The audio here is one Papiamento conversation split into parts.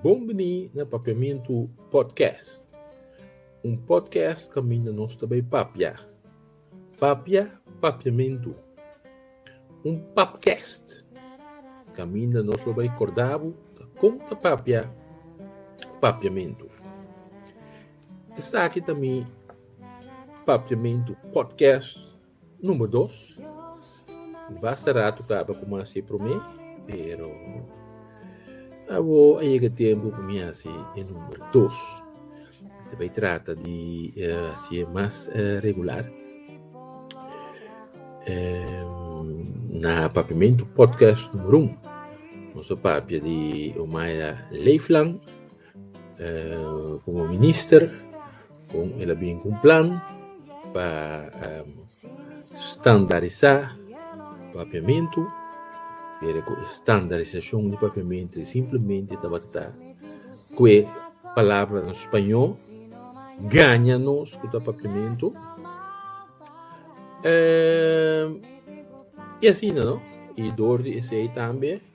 Bon bini na Papiamentu Podcast. Un podcast kaminda nos ta bai papia. Papia, papiamentu. Un papcast, kaminda nos lo bai korda bo kon ta papia papiamentu. Esaki ta mi Papiamentu Podcast. Number dos, basta rato caba cu mi haci prome, pero abo a yega tempo pa mi haci e number dos. Ta bay trata di uh, haci e mas uh, regular. Um, na Papiamento Podcast numero un, nos papia di Omaya Leeflang. komo minister kon el a bin ku un plan pa standarisá papiamentu pero ku e standarisashon di papiamentu e simplemente tabata ta ku e palabranan spañó gaña nos ku ta papiamentu i asina no i dor di esei tambe.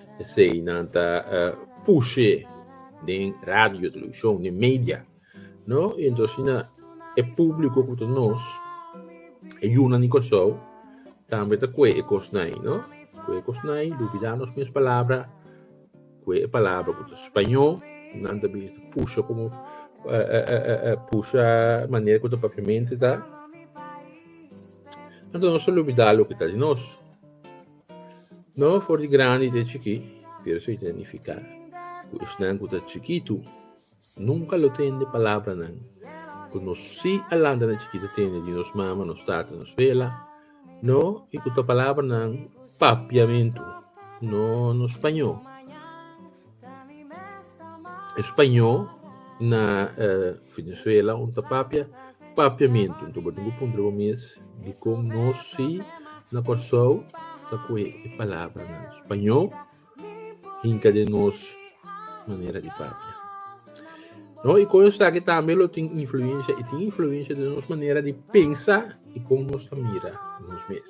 Esei nan ta uh, pushe den radio, televishon, den media. No? I ento asina e publiko ku ta nos, e yu nan di Kòrsou, tambe ta kue e kosnai, no? Kue e kosnai, lubidá nos mes palabra, kue e palabra ku ta spañó, nan ta bisa ta pusha komo, uh, uh, uh, uh, pusha manera ku ta papiamente ta. Anto nos ta lubidá loke ta di nos. No for di grandi te chikí, pero su identifiká ku esnan ku ta chikitu nunka lo tende palabranan ku nos si a lanta na chikí ta tende di nos mama, nos tata, nos bela, no, i ku ta palabranan papiamentu, no nos pañó. Españó na Venezuela un ta papia papiamentu. Anto bo tin ku puntra bo mes dikon nos si na Kòrsou ta kohe e palabranan Spañó hinka den nos manera di papia. No, i kon esaki tambe lo tin influensha, i tin influensha den nos manera di pensa i kon nos ta mira nos mes.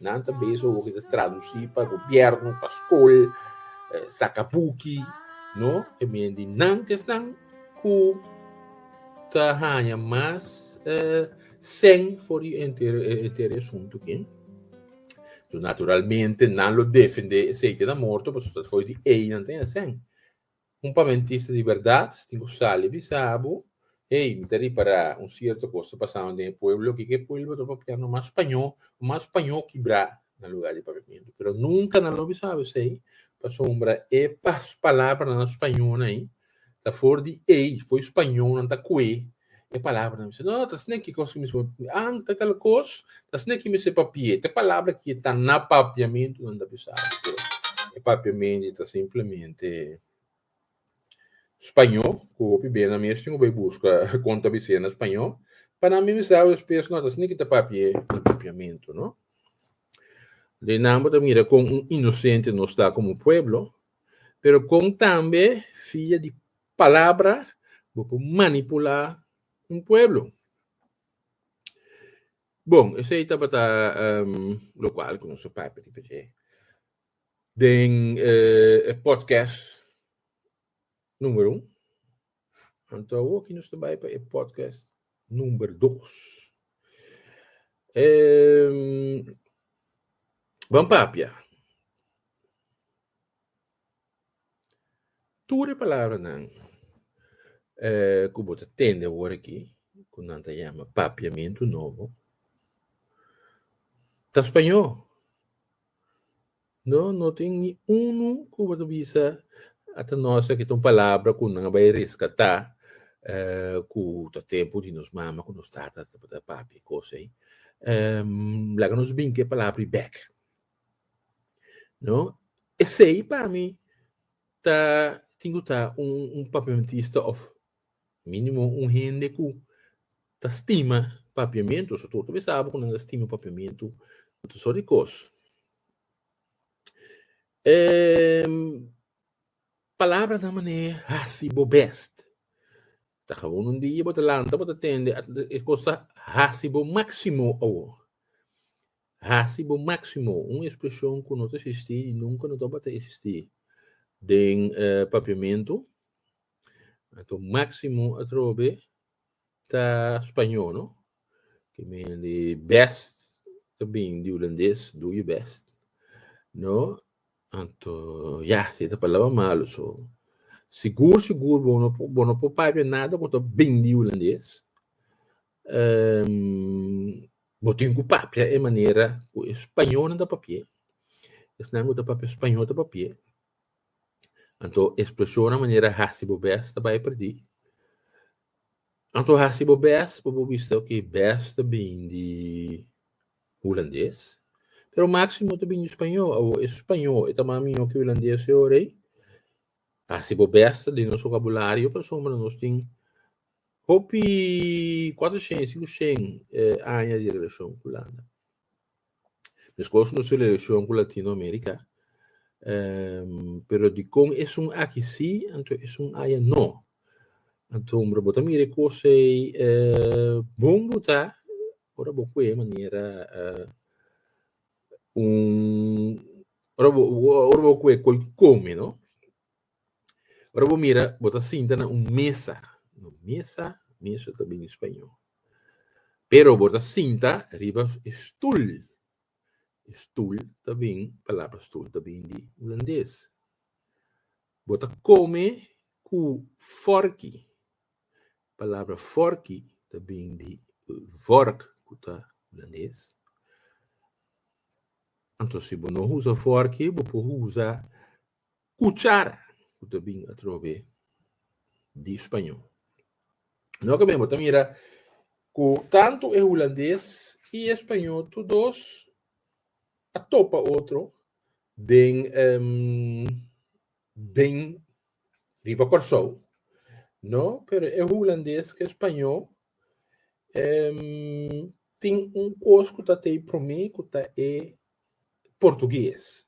Nan ta bezig owo ki ta traduci pa gobierno, pa school, saca buki, no? E mien di nan ki esnan cu ta haña mas uh, sen for di enter, enter e asunto ki. So naturalmente nan lo defende esei ki na morto, paso ta for di ei nan ta haña sen. Un pamentista di berdad tin cu sali bisa bo, Hey, mi ta ripara un cierto cos ta pasando den e pueblo, kiko e pueblo ta papia no mas paño, mas paño kibra na lugar di pavimento. Pero nunca nan lo bisa bo esey, pasobra e pas palabra nan spañonan ey ta for di ey, fo'i spaño nan ta cue E palabra mi se no ta sne ki kos mismo ang ta tal kos ta sne ki mi se papie te palabra ki ta na papiamentu nan ta bisa ato e papiamenti ta simplemente spaño ku hopi bes nan mi a tin ku bai buska kon ta bise na spaño pa nan mi bisa despues no ta sne ki ta papie un papiamentu no de nan bo ta mira kon un inosente nos ta komo pueblo pero kon tambe fia di Palabra bo por manipula un pueblo. Bon, esei tabata lokual ku nos a papia di p'esei. Den e pòdkèst number un, anto awoki nos ta bai pa e pòdkèst number dos. Bo a papia. Tur e palabranan ku bo ta tende awor aki, ku nan ta yama papiamentu nobo, ta spañó. No, no tin ni unu ku bo ta bisa ata nos aki ta un palabra ku nan a bai reskatá ku ta tempu di nos mama ku nos tata tabata papia kos ei. Laga nos binka e palabra ei bèk. No? Esei pa mi ta tin ku ta un un papiamentista òf mínimo un hende ku ta stima papiamentu. So tur ta bisa abo ku nan ta stima papiamentu ku tur sort di kos. E palabra ta manera e hasi bo bèst. Ta gawon un dia bo ta lanta bo ta tende e kos ta hasi bo máksimo awor. Hasi bo máksimo, un ekspreshon ku no ta eksistí i nunka no tabata eksistí den Papiamentu. Anto máksimo atrobe ta spañó, no? Ke men di bèst ta bini di hulandes, do your best, no? Anto, ya, si e ta palabra malu, so sigur sigur bo no por papia nada ku ta bini di hulandes. bo tin ku papia e manera ku e spañolnan ta papia, esnan ku ta papia spañol ta papia, anto ekspreshonnan manera hasi bo bes ta bai pèrdí. Anto hasi bo bes pa bo bisa oke bes ta bini di hulandes, pero máksimo ta bini di spañol. Awo e spañol e ta mas mihó ki e hulandes e ora ei? Hasi bo bes ta den nos bokabulario pasobra nos tin Hopi cuatro shen y cinco shen aña di relacion cu landa. Mescos nos relacion cu Latinoamerica, pero dicon esun aki si, anto esun aya no. Anto hombre bo ta mira e cosa ey bon bo ta ora bo cu e manera un ora bo cu e coi come no. Ora bo mira, bo ta sinta na un mesa, no mesa, mesa ta bini spañó, pero bo ta sinta riba e stul, e stul ta bin, palabra stul ta bin di hulandes, bo ta kome ku fòrki, palabra fòrki ta bin di vork ku ta hulandes, anto si bo no usa fòrki bo por usa Cuchara cu ta bin atrobe di Spañó. Noke men bo ta mira cu tantu e Hulandes y e Spañó tur dos a topa otro den den riba Corsou no pero e Hulandes cu e Spañó tin un cos cu ta ta e prome cu ta e portugues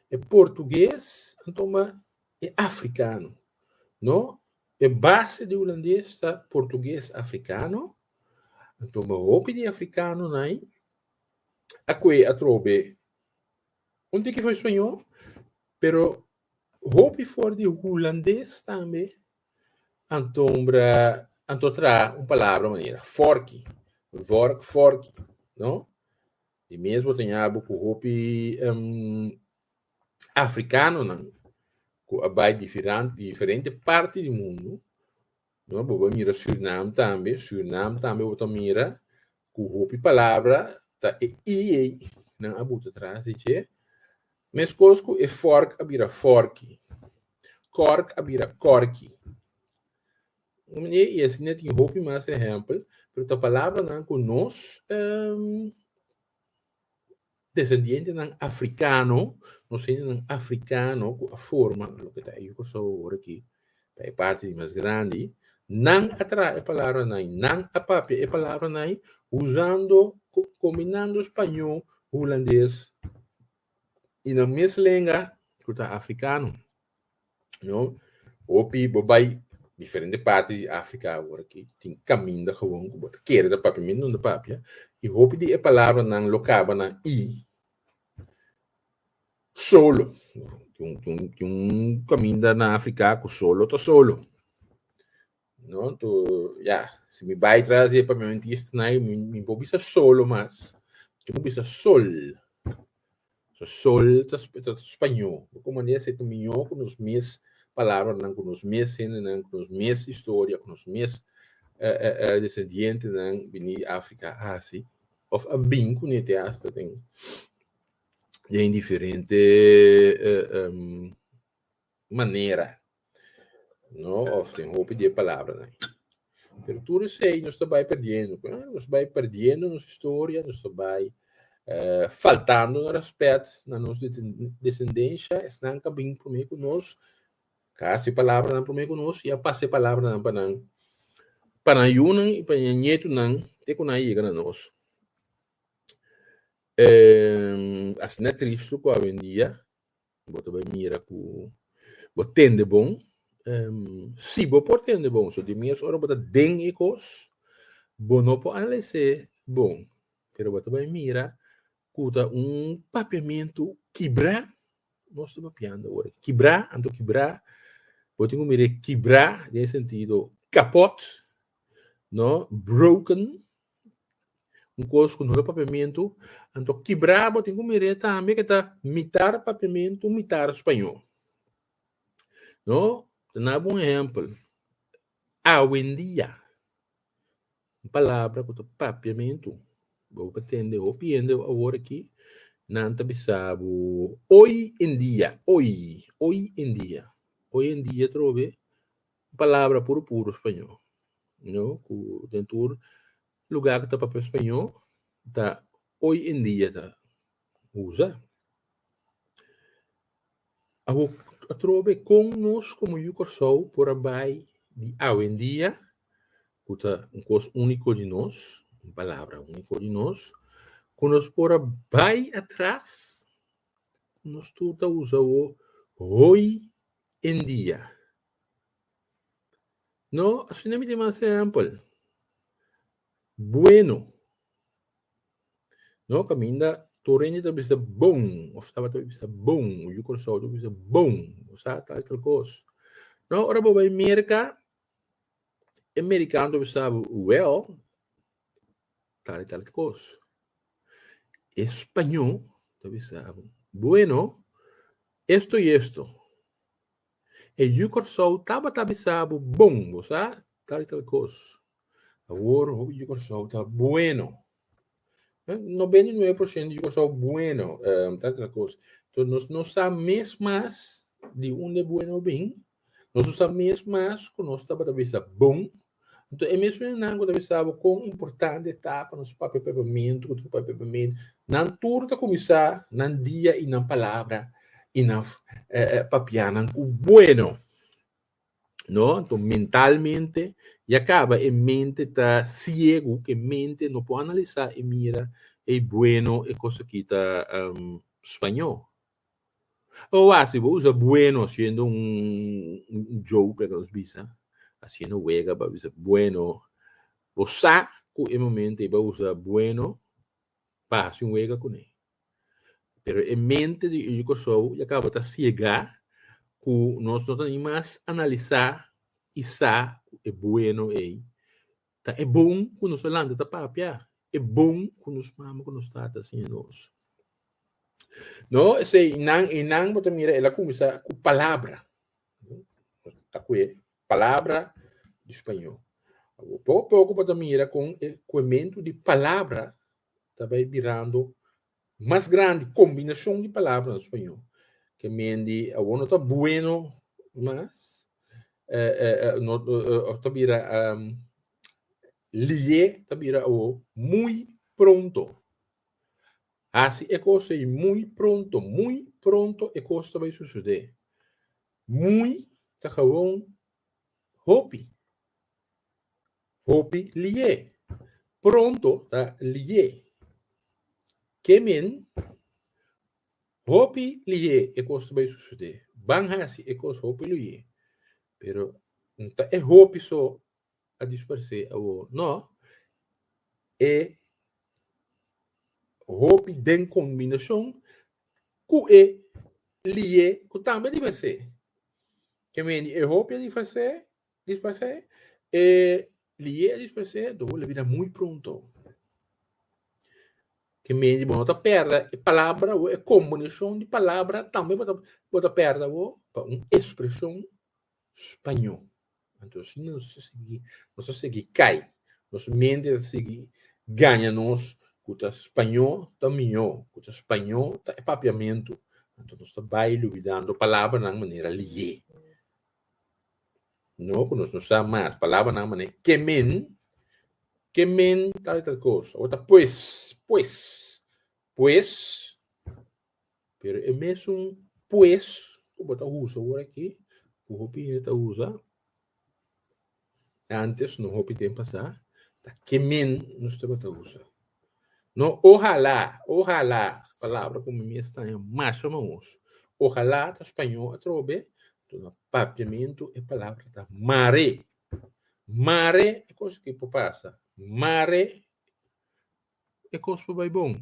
e portugues antoma e africano no e base di hulandes ta portugues africano antoma hopi di africano nai a koe atrobe un tiki for español pero hopi for di hulandes tambe antombra anto traha un palabra manera forki vork forki no Di mes bo ta ñabu ku hopi afrikanonan ku a bai diferente parti di mundu, no, bo bai mira Surinam tambe, Surinam tambe bo ta mira ku hopi palabra ta e i ei nan a buta tras di dje, meskos ku e fòrk a bira fòrki, kòrk a bira kòrki. Un manier i asina tin hopi mas ehèmpel, pero ta palabranan ku nos desendientenan afrikano, nos hendenan afrikano ku a forma loke ta e Yu Kòrsou awor aki, ta e parti di mas grandi, nan a traha e palabranan ei, nan a papia e palabranan ei usando, kombinando spañó, hulandes i nan mes lenga ku ta afrikano. No, hopi bo bai diferente parti di Africa awor aki, tin caminda gewoon cu bo ta kere ta papia minder ta papia, y hopi di e palabranan lo caba na i, solo, tin un caminda na Africa cu solo ta solo. No, to ya, si mi bai tras e pamenti snai, mi, mi bo bisa solo mas. Yo bo bisa sol. So sol ta, sp- ta spañol. Bo ko manera se ta miño ku nos mes palabra nan, ku nos mes hende nan, ku nos mes historia, ku nos mes eh, eh, eh, descendiente nan bini Africa a hasi, of a bin kunete hasta den, den diferente eh, em, manera, no? Of den hopi di e palabranan. Pero tur esei nos ta bai perdiendo, pues. Nos bai perdiendo nos historia, nos ta bai faltando na rèspèt na nos desendensha. Esnan ka bin promé ku nos, ka hasi e palabranan promé ku nos, i a pasa e palabranan pa nan, pa nan yunan i pa nan ñetunan te ku nan a yega na nos. Asina tristu ku awendia bo ta bai mira ku bo tende bon, si bo por tende bon, so di mes ora bo ta den e kos, bo no por analis'é bon, pero bo ta bai mira ku ta un papiamentu kibrá, nos ta papiando ora kibrá, anto kibrá, bo tin ku mir'é kibrá den e sentido kapòt, no, broken. Un kos ku no ta papiamentu, anto kibrá bo. Tin ku mir'é tambe ke ta mitar papiamentu, mitar spañó. No, ta na bo un ehèmpel. Awendia, un palabra ku ta papiamentu, bo por tende hopi hende awor aki, nan ta bisa bo hoy en día, hoy, hoy en día. Hoy en día trove Un palabra puru puru spañó, no, ku den tur lugá ku ta papia spañó ta oy en dia ta usa. Awo atrobe kon nos komo Yu Kòrsou por a bai di awendia ku ta un kos úniko di nos, un palabra úniko di nos, ku nos por a bai atras, nos tur ta usa awo oy en dia. No, asina mi tin mas ehempel. Bueno. No, caminda tur hende ta bisa bon, of tabata bisa bon, o yu Curaçao ta bisa bon, bo sa tal tal cos. No, ora bo bai Merca, e Mericano ta bisa bo, well, tal tal cos. E Spañó ta bisa bo, bueno, esto y esto. E yu Kòrsou tabata bisa bo, Bon, bo sa tal i tal kos. Awor, hopi yu Kòrsou ta bueno. Nobenta i nuebe por shento yu Kòrsou bueno, tal i tal kos. Enton, nos no sa mes mas di unda e bueno a bin. Nos no sa mes mas ku nos tabata bisa bon Nto e mesun hernan ku ta bisa bo kon importante ta pa nos papia pepemento, ku ta papia pepemento, nan tur ta kuminsá nan dia i nan palabra i nan papianan ku bueno. No, nto mentalmente ya kaba e mente ta siegu, ku e mente no por analisá i mira e i bueno, e kos aki ta spañó. Bo wasi bo usa bueno haciendo un joke like nos bisa haciendo wega pa bisa bueno bo sa cu e momento y bo a usa bueno pa haci un wega cune pero e mente di Eugene Koushou ya caba ta ciega cu nos no ta ni mas analisa y sa cu e bueno ey Ta e bon cu nos ta lanta ta papia, e bon cu nos mama cu nos tata siña nos. No, esey nan, e nan bo ta mira el a cuminsa cu palabra, ta cu e palabra di spaño. Poco a poco bo ta mira con e cuementu di palabra ta bay birando Mas grandi kombinashon di palabra na spañó ke men di awor no ta bueno mas ta bira liye ta bira awor muy pronto. Hasi e kos ei muy pronto, muy pronto e kos ta bai susede. Muy ta gewoon hopi. Hopi lié. Pronto ta lié. Ke men, hopi lié e kos ta bai susede. Ban hasi e kos hopi lié. Pero no ta e hopi so a disparsé awor. No. E hopi den kombinashon ku e lié ku tambe disparsé. Ke men, e hopi a disparsé. Disparsé e liye disparsé do la bira muy pronto. Ke men di bo no ta perda e palabra bo e combinacion di palabra tambe bo ta bo ta perda bo pa un expresion spaño. Anto asi no ta sigui no ta sigui cay nos mente ta sigui gaña nos cu ta spaño ta miyo cu ta spaño ta e papiamento anto nos ta bay lubidando palabra nan manera liye. No ku nos no sa mas palabranan manera e ke men, ke men tal i tal kos. Awor ta pues, pues, pues. Pero e mesun pues ku bo ta usa awor aki, ku hopi hende ta usa, antes no hopi tempu pasá, ta ke men nos tabata usa. No, ohalá, ohalá, palabra ku mi mi ekstraña mas pa mi oso. Ohalá ta spañó atrobe, tuna papiamentu e palabra ta mare. Mare e kos ku por pasa, mare e kos por bai bon.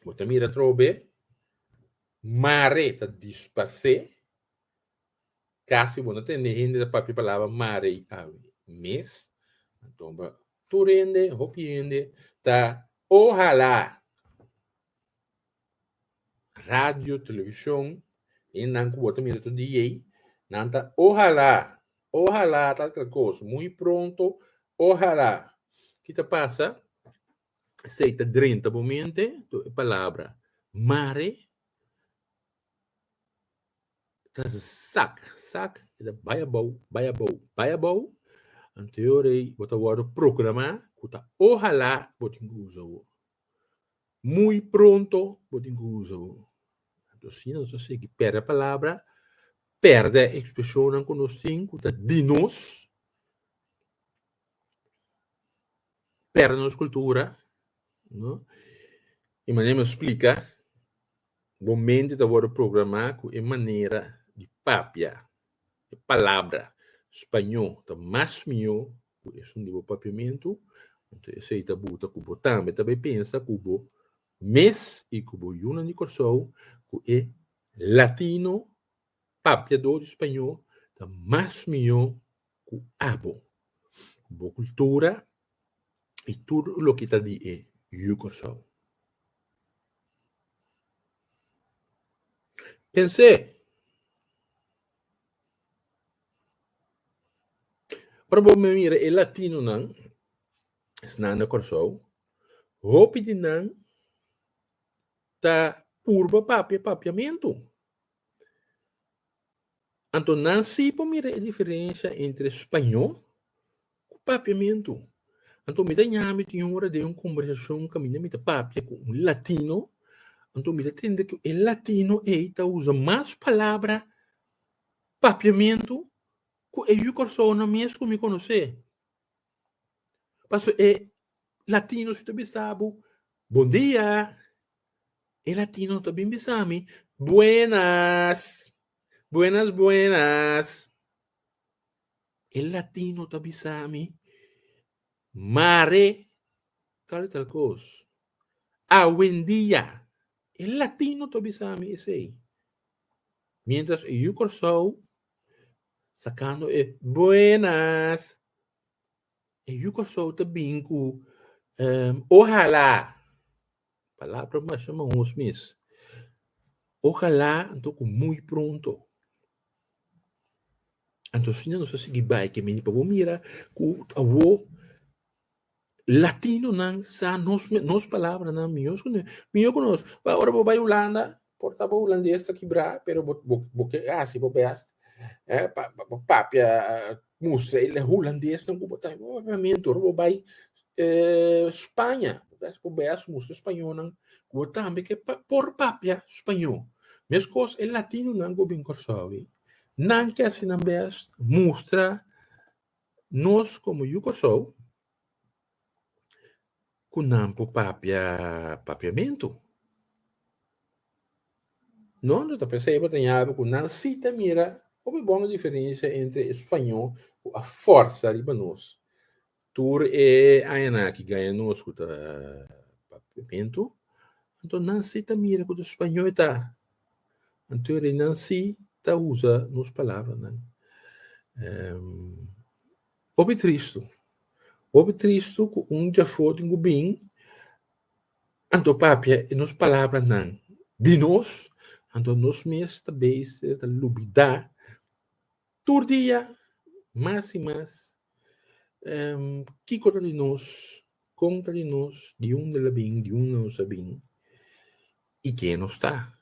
Bo ta mira atrobe, mare ta dispas'é. Casi bo no tende hende ta papia palabra mare y awe mes. Anto bo tur hende, hopi hende ta ohala radio, television, hendenan cu bo ta mira tur di ey, nan ta ohala, ohala tal tal cos, muy pronto, ohala. Ki ta pasa? Esey ta drenta bo mente, tur e palabra mare. ta zak zak i ta bai abou bai abou bai abou anto yo rei bo ta wòrdu programá ku ta ohalá bo tin ku usa bo muy pronto bo tin ku usa bo anto si nos ta sigui pèrdè palabra pèrdè ekspreshonnan ku nos tin ku ta di nos pèrdè nos kultura i manera mi a splika. Bo mente ta wòrdu programá ku e manera di papia e palabra spañó ta mas mihó ku esun di bo papiamentu, anto esei ta buta ku bo tambe ta bai pensa ku bo mes i ku bo yunan di Kòrsou, ku e latino papiadó di spañó ta mas mihó ku abo, bo kultura i tur loke ta di e Yu Kòrsou. Pens'é, ora bo mira e latinonan snan na Kòrsou, hopi di nan ta purba papia papiamentu. Anto nan sí por mira e diferensha entre spañó ku papiamentu. Anto mi ta ña mi tin un ora den un kombersashon kaminda mi ta papia ku un latino, anto mi ta tende ku e latino ei ta usa mas palabra papiamentu ku e yu Kòrsounan mes ku mi konosé. Paso e latino su ta bisa bo, Bon dia! E latino ta bin bisa mi, Buenas! Buenas, buenas! E latino ta bisa mi, Mare tal y tal kos. Awendia! E latino ta bisa mi esei. Mientras e yu Kòrsou. Sakando e buenas. E yu Kòrsou ta bin ku um ohalá. Palabra masha manhos mes. Ohalá anto ku muy pronto. Anto asina nos a sigui bai kemey. Bo mira ku awo. Latinonan sa nos mes, nos palabranan mihos ku nan, mihó ku nos. Bai, ora bo bai Hulanda, por ta bo hulandes ta kibrá, pero bo, bo, bo ke hasi bo bèst pa, pa, pa papia, mustra e hulandesnan ku bo ta. Obviamente, ora bo bai Spaña, bo ta hasi bo bèst mustra e spañónan ku bo tambe ke pa, por papia spañó. Meskos e latinonan ku a bin Kòrsou ei, nan ke hasi nan bèst mustra. Nos komo Yu Kòrsou ku nan por papia papiamentu, no? Lo ta p'esei bo ta yabi ku nan si ta mira hopi bon diferensha entre e suaño ku a fòrsa riba nos tur e añanan aki gaya nos ku ta papiamentu, anto nan si ta mira ku e suaño e ta Anto e reinan sí ta usa nos palabranan. Hopi tristu. Hopi tristu ku un djafó tin ku bin, anto papia e nos palabranan di nos, anto nos mes ta beise ta lubidá. Tur dia mas i mas em kiko ta di nos, kon ta di nos, di unda el a bin, di unda nos a bin i ke nos ta.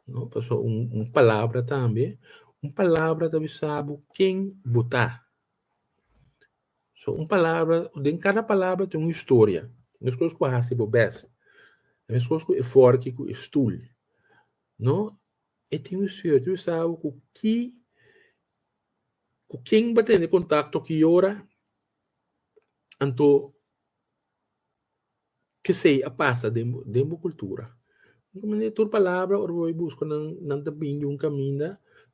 No paso un un palabra tambe, un palabra ta bisa bo ken bo ta. So un palabra, den kada palabra tin un historia, meskos ku hasi bo bèst, meskos ku e fòrki ku e stul, no E tin un suerte un sabi ku ki ku ken bo tene kontakto ki ora anto kesei a pasa den bo den bo kultura un manera tur palabra ora bo bai buska nan nan ta bini di un kaminda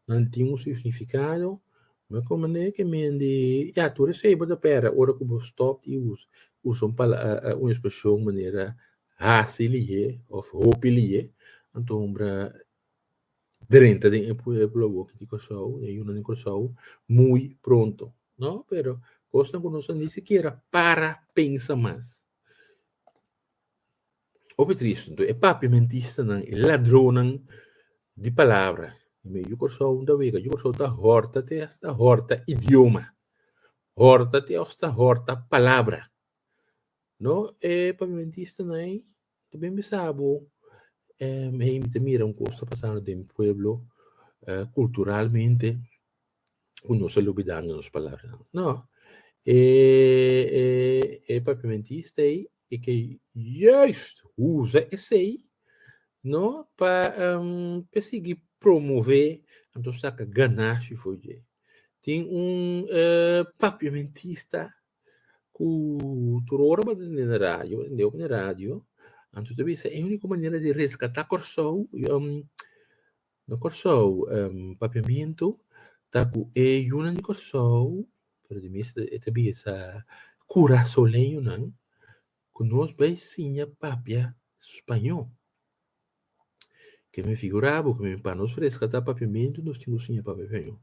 nan tin un signifikado me kòm manera ke mende ya tur esei bo ta pèrdè ora ku bo stòp di usa un pala un ekspreshon manera hasi lihé of hopi lihé, anto hombra drenta den e pueblo awor di Kòrsou, e yunan di Kòrsou, muy pronto. No, pero kosnan ku nos a ni sikiera para pensa mas. Hopi triste. Enton e papiamentistanan, e ladronnan di palabra den yu Kòrsou ta wega. Yu Kòrsou ta hòrta te hasta hòrta idioma, hòrta te hasta hòrta palabra. No e pavimentistanan ei ta bin bisa bo em hey mi ta mira un kos ta pasando den mi pueblo eh, culturalmente ku nos a lubidando nos palabranan. No, e e e pavimentista ei e ke juist usa esei no pa em pa sigui promove anto saka ganashi for dje. Tin un eh pavimentista ku tur ora bo ta tende na radio, bo tende opi na radio, anto ta bisa e úniko manera di reskatá Kòrsou, no Kòrsou, Papiamentu, ta ku e yunan di Kòrsou, pero ta bisa kurasoleñonan ku nos bai siña papia spañó. Ke mi figurá bo ku mi pa nos resgatá papiamentu nos tin ku siña papia spañó.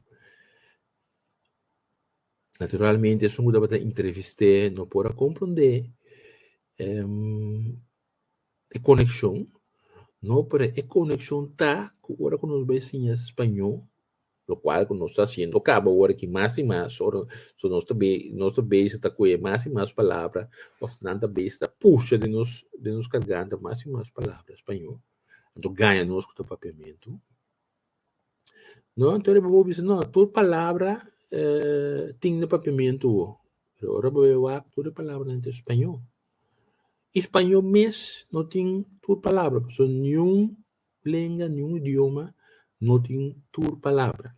Naturalmente esun ku tabata entrevist'é no por a komprondé e konekshon, no, pero e konekshon ta ku ora ku nos bai siña spañó. lo cual cu nos ta haciendo caba awor aki mas y mas, ora so nos ta be, nos ta beza ta coe mas y mas palabra, of nan ta beza ta pusha den nos, den nos carganta mas y mas palabra Spañó, anto gaña nos cu ta Papiamento. No, anto riba bo bisa, no, tur palabra tin den Papiamento bo, pero ora bo e wak, tur e palabranan ta Spañó. Y Spañó mes no tin tur palabra, pasobra niun plenga niun idioma no tin tur palabra.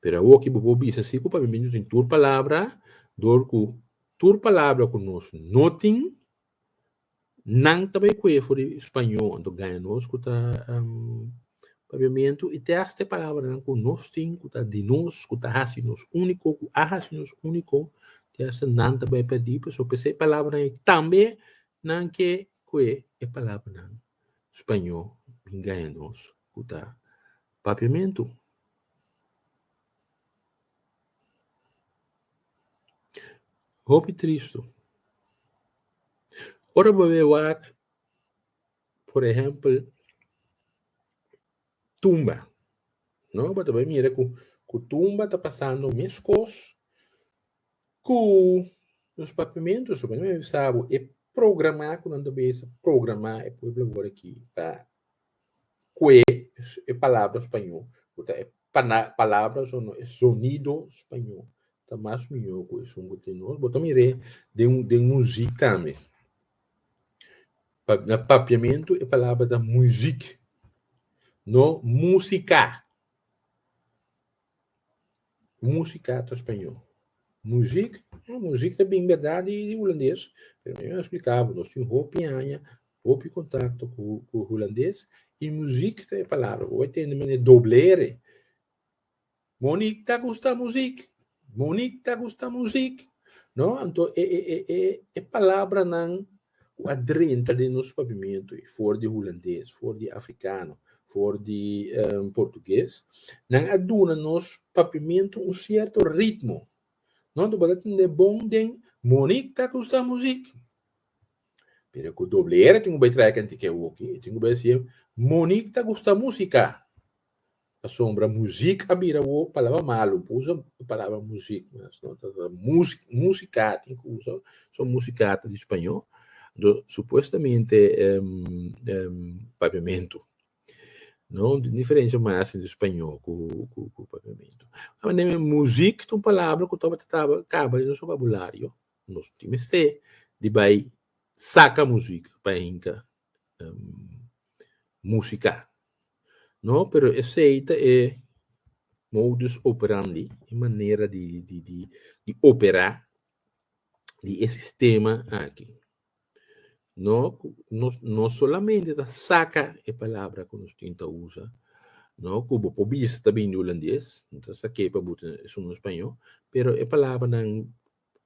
Pero awor ki bo por bisa si ku pa mimia no tin tur palabra, dor ku tur palabra ku nos no tin, nan ta bai kue for di spañó, anto gaña nos ku ta papiamentu i te hasta e palabranan ku nos tin ku ta di nos, ku ta hasi nos úniko, ku a hasi nos úniko, te hasta nan ta bai pèrdí. Pasobra esei palabranan tambe Nan ke kue e palabranan spañó bin gaña nos ku ta papiamentu? Hopi tristu. Ora bo bai wak, por ehèmpel, tumba, no? Bo ta bai mira ku tumba ta pasando meskos. Ku nos papimentu suba, mi bisa bo, e programa ku nan ta bisa programa e pueblo wòrdu aki ta kue e palabra spañó ku ta e palabras òf e sonido spañó ta mas mihó ku esun ku tin nos. Bo ta mir'é den muzik tambe. Na papiamentu e palabra ta muzik, no músika. Música ta espanhol. Muziek, eh, muziek ta bin berdad di, di Hulandes, pero mi a explica bo, nos tin hopi aña, hopi contacto cu, cu Hulandes, y muziek ta e palabra, bo a tende men e doblere, Monique ta gusta muziek, Monique ta gusta muziek, no, anto e, e, e, e, e palabranan ku a drenta den nos pabimentu ei, for di hulandes, for di afrikano, for di portuges, nan a duna nos pabimentu un sierto ritmo. Nòt bo ta tende bon den Monique ta gusta muzik, pero ku doble R tin ku bai traha e kantikia woki, e tin ku bai a siña, Monique ta gusta musika. Pasobra muzik a bira bo palabra malu por usa e palabra muzik mes no ta ta musi musika tin ku usa son musika ta di spañó do supuestamente papiamentu no tin un diferensha mas entre spañó ku ku papiamentu manera muzik ta un palabra ku tabata taba kaba den nos bokabulario nos tin mester di bai saka muzik pa hinka. músika. No, pero esei ta e modus operandi, e manera di di operá di e sistema aki. No, nos no solamente ta saka e palabra ku nos tin ta usa, no, ku bo por bisa ta bini olandes, no ta sak'é pa bo ta esun espanyo, pero e palabranan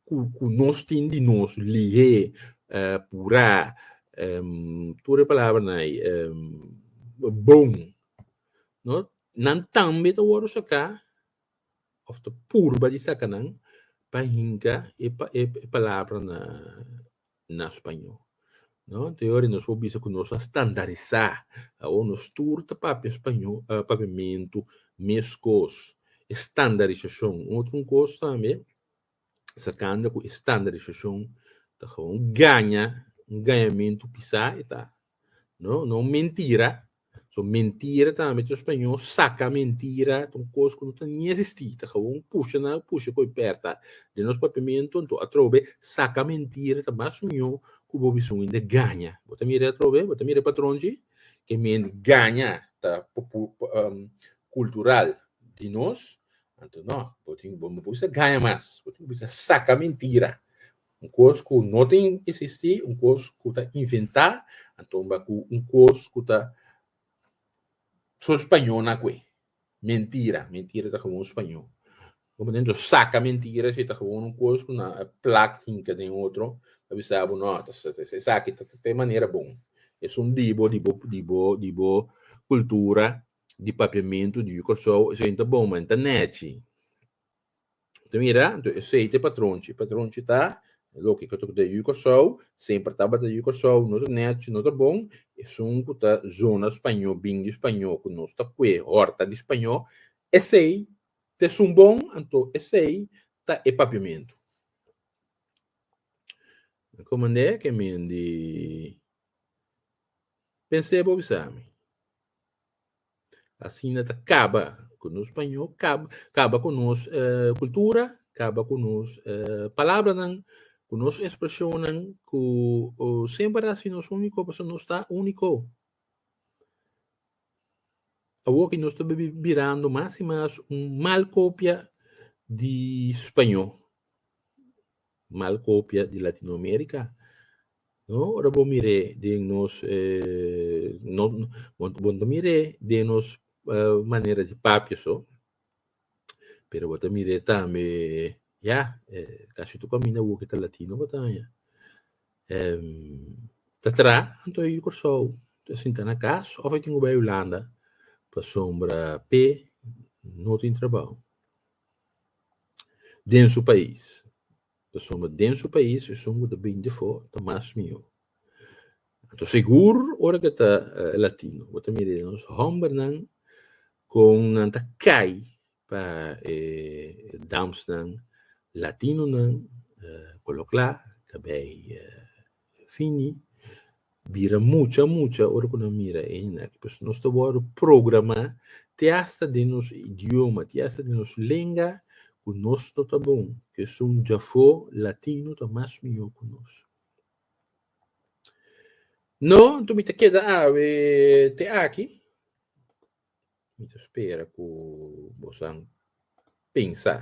ku nos tin di nos lihé, purá, tur e palabranan ei, bon, no, nan tambe ta wòrdu saká òf ta purba di saka nan pa hinka e e palabranan na spañó, no. Te ora nos por bisa ku nos a standarisá, awor nos tur ta papia spañó, papiamentu mes kos, e standarisashon. Un otro kos tambe. Sacando cu e standardisacion ta gewoon gaña, un gañamentu pisa e ta. No, no un mentira. So mentira tambe ta spañó, saca mentira, ta un cos cu no ta ni existi, ta gewoon pusha na pusha cu e perta den nos papiamento, anto atrobe saca mentira ta mas mió cu bo bisun hende gaña. Bo ta mira atrobe, bo ta mira e patronchi, kende gaña ta cultural di nos, Anto no, bo tin bo bisa gaña mas, bo tin bisa saka mintira, un kos ku no ta eksistí, un kos ku ta inventá, antoba ku un kos ku ta so spañó na kue, mentira, mentira ta gewoon spañó, bo ta nuntu saka mentira si ta gewoon un kos ku nan a plak hinka den otro, a bisa bo no, esaki ta te manera bon, esun di bo, di bo, di bo, di bo kultura, di papiamentu di Yu Kòrsou, esei ta bon, ma ta nèchi. Ta mira? Anto esei ta e patronchi. E patronchi ta loke ku ta kota di Yu Kòrsou, semper tabata di Yu Kòrsou, no ta nèchi, no ta bon. Esun ku ta zona spañó, bini di spañó, ku nos ta kue hòrta di spañó, esei ta esun bon, anto esei ta e papiamentu. Mi ko mand'é ke men di pens'é, bo bisa mi. Asina ta kaba ku nos pañó, kaba ku nos kultura, kaba ku nos palabranan, ku nos ekspreshonnan ku semper a hasi nos úniko pasobra nos ta úniko. Awor ki nos ta birando mas i mas un mal kopia di spañó. mal kopia di Latinoamérika. No, ora bo mir'é den nos no bo bo ta mir'é den nos manera di papia so, pero bo ta mir'é tambe ya kasi tur kaminda wok e ta latino bo ta haña. ta traha anto e yu Kòrsou, ta sinta na kas òf e tin ku bai Hulanda pasobra p'e no tin trabou. den su pais, pasobra den su pais esun ku ta bini di afó ta mas mihó. Anto segur ora ke ta latino bo ta mira e nos hòmbernan kon nan ta kai pa e damsnan latinonan, ku lo kla ta bai Fini bira mucha mucha ora ku nan mira e hina aki pasobra nos ta wòrdu programá te asta den nos idioma, te asta den nos lenga ku nos no ta bon, ku esun djafó latino ta mas mihó ku nos. No, nton mi ta keda awe te aki. Mi ta spera ku bosan pensa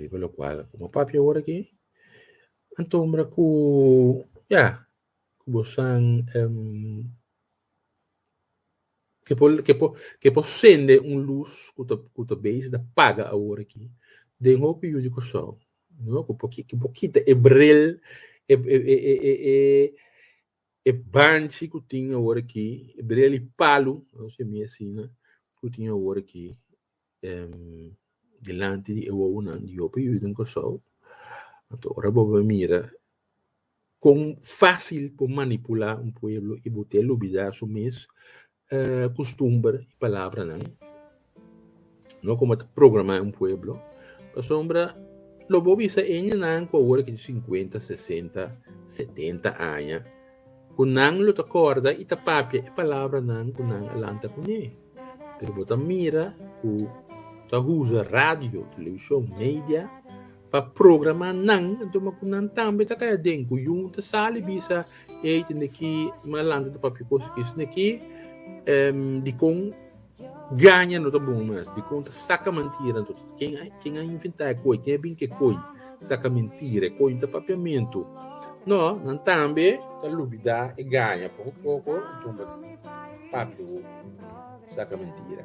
riba lokual ku bo papia ora aki. Antombra ku, ya, ku bosan ke por ke por ke por sende un lus ku ta ku ta beish ta paga awor aki den hopi yu di Kòrsou, no? Ku por ki ku por kita e brel e e e e e. E banchi ku tin awor aki, e brel i palu, nos yami asina, ku tin awor aki dilanti di e wowonan di Yope Yu den Kòrsou, anto ora bo bai mira kon fásil por manipulá un pueblo i bo te lubidá su mes kustumber i palabranan. No komo ta programá un pueblo. Pasobra lo bo bisa eñanan ku awor a kiji sinkuenta, sesenta, setenta aña, ku nan lo ta kòrda i ta papia e palabranan ku nan a lanta kuné. Pero bo ta mira ku ta usa radio, televishon, media, Pa programa nan, enton ma ku nan tambe ta kai aden ku yun ta sali bisa ei tende ki mas alanti ta papia cos ku esei aki em, dikon gaña no ta bon mas, dikon ta saka mantira anto ken a ken a inventá e koi, ken a bin ku e koi, saka mentira, e koi no ta papiamentu. No, nan tambe ta lubidá e gaña poko poko, enton papia ku saka mentira.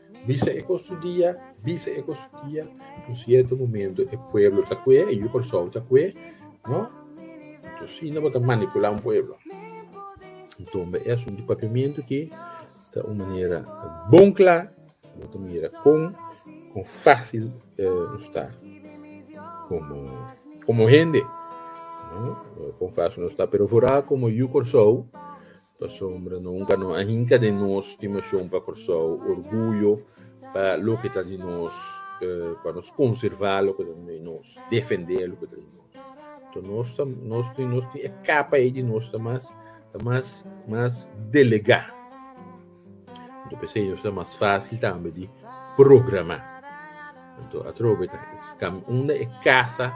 Bisa e kos su dia, bisa e kos su dia, un sierto momento e pueblo ta kue, e yu Kòrsou ta kue, no? Anto asina bo ta manipulá un pueblo. Anto bo e asuntu di Papiamentu ki ta un manera bon kla, bo ta mira kon kon fásil nos ta komo komo hende, no? Kon fásil nos ta, pero vooral komo yu Kòrsou. Pasobra no hunga no a hinka den nos stimashon pa Kòrsou, orguyo pa loke ta di nos, pa nos konservá loke ta di nos, defendé loke ta di nos. Anto nos ta, nos tin, nos tin e kapa ei di nos ta mas, ta mas, mas delegá. Anto p'esei nos ta mas fásil tambe di programá. Anto atrobe ta unda e kasa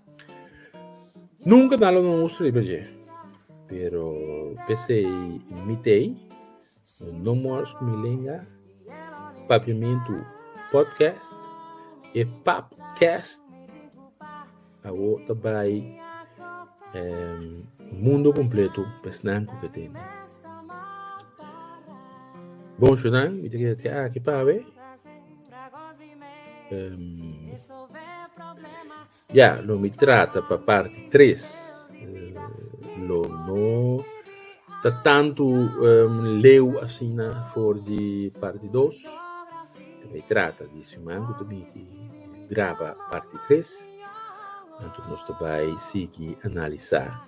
Nunca nan lo nos usted riba dje. Pero pesey mi tey no more scumilinga papiamentu podcast e papcast awor ta bay ehm mundo completo pa esnan cu ke tende. Bon show nan mi ta keda te aki pawe. Ya, lo mi trata pa parti tres. Lo no ta tantu leu asina for di parti dos. Mi ta trata di siman ku ta bini di graba parti tres. Anto nos ta bai sigui analisá.